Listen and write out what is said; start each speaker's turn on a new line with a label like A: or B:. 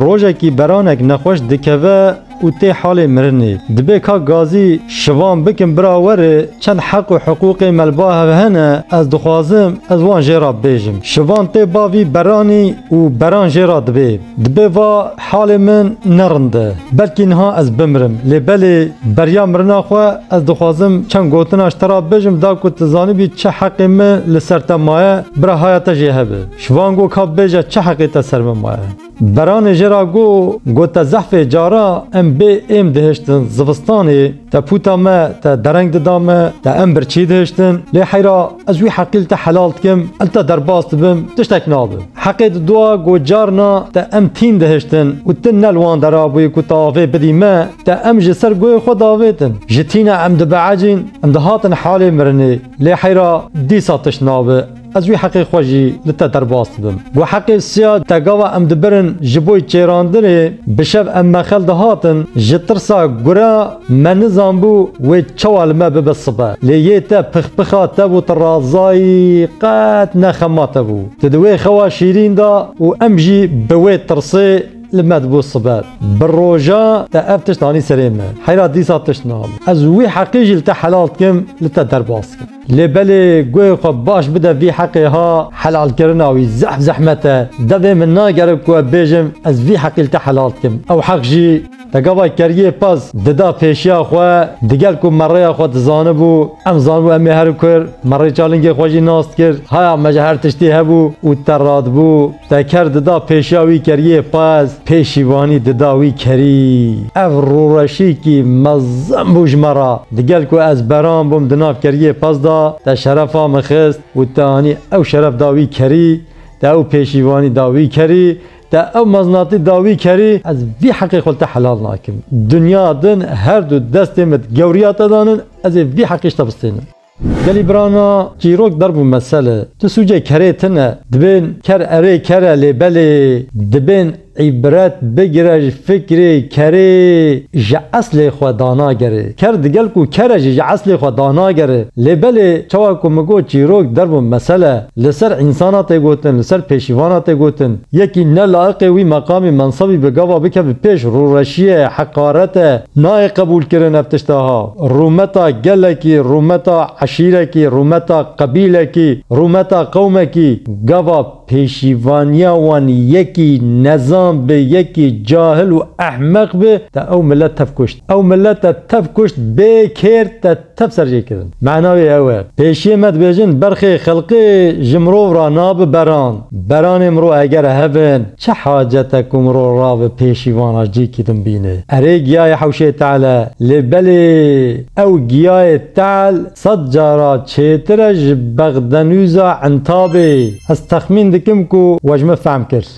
A: Rojekî beranek nexweş dikeve û tê halê mirinê. Dibê kak Gazî şivan bikim bira were çend heq û hiqûqê melba hev hene ez dixwazim ez wan jê re bibêjim. Şivan tê ba vî beranî û beran jê re dibê. Dibê va halê min ne rind e. Belkî niha ez bimirim. Lê belê beriya mirina xwe ez dixwazim çend gotina ji te re bibêjim da ku tu zanibî çi heqê min li ser te maye bira haya te jê hebe. Şivan got ka bêje çi heqê te ser min maye. Beranê jê ra got, Got te zehfê cara em bê êm dihiştin zivistanê, teputa me te dereng dida me, te em birçî dihiştin, lê heyra ez wî heqî li te helal dikim, li te derbas dibim, tiştek nabe. Heqê di dua got carna te em tîn dihiştin û tu ne li wan dera bûyî ku te avê bidî me, te em ji ser goyê xwe davêtin. Ji tîna em dibehecîn, em dihatin halê mirinê, lê heyra dîsa tişt nabe. Ez wî heqê xwe jî li te derbas dibim. Ku heqê siya te gava em dibirin ji bo çêrandinê, bi şev em mexel dihatin, ji tirsa gura me nizanbû wê çawa li me bibe sibe. Lê yê te pixpixa te bû tu razayî qet ne xema te bû. Tu di wê xewa şîrîn de û em jî bi wê tirsê li me dibû sibe. Bi roja te ev tişt anî serê me. Heyra dîsa tişt nabû. Ez wî heqê jî li te helal dikim, li te derbas dikim. Lê belê guhê xwe baş bide vî heqê ha helalkirina wî zehf zehmet e. Devê min nagere ku ev bêjim ez vî heqîl te helal dikim. Ew heq jî te gava keriyê pez dida pêşiya xwe digel ku me rêya xwe dizanibû, em zanibû em ê herin kur, me rêçalingê xwe jî nas dikir, haya me ji her tiştî hebû û te radibû. Teker dida pêşiya wî keriyê qez pêşîvanî dida wî kerî. Ev rûreşîkî mezin bû ji me re. Digel ku ez beran bûm di nav keriyê qez de te şerefa min xist û te anî ew şeref da wî kerî, te ew pêşîvanî da wî kerî, te ew mezinatî da wî kerî. Ez vî heqê xwe li te helal nakim. Dinya din her du destên min gewriya te danin, ez ê vî heqî ji te bistênim. Gelî birana çîrok der bû mesele. Tu sûcê kerê tine. Dibên ker erê ker e lê belê dibên îbret bigire ji fikrê kerê ji eslê xwe danagere. Ker digel ku ker e jî ji eslê xwe danagere. Lê belê çawa ku min got çîrok der bû mesele li ser însana tê gotin, li ser pêşîvana tê gotin. Yekî ne laiqê wî meqamî mensebî bi gava bikeve pêş rûreşiyê, heqarete. Nayê qebûlkirin ev tişt aha. Rûmeta gelekî, rûmeta eşîrekî, rûmeta qebîlekî, rûmeta qewmekî, gava pêşîvaniya wan yekî nezan bi, yekî cahil û ehmeq bi, te ew milet tev kuşt. Ew milet te tev kuşt, bê kêr te tev serjêkirin. Mana wê ew e. Pêşiyê me dibêjin, berxê xelqê ji mirov ra nabi beran. Beranê mirov eger hev in, Çi hacet e ku mirov rabe pêşî vana cîkî din bîne? Erê giyayê hewşê te'l e, lê belê ew giyayê te'l sed cara çêtir e ji bexdenûza entabê. Ez texmîn dikim ku we ji min fehm kir.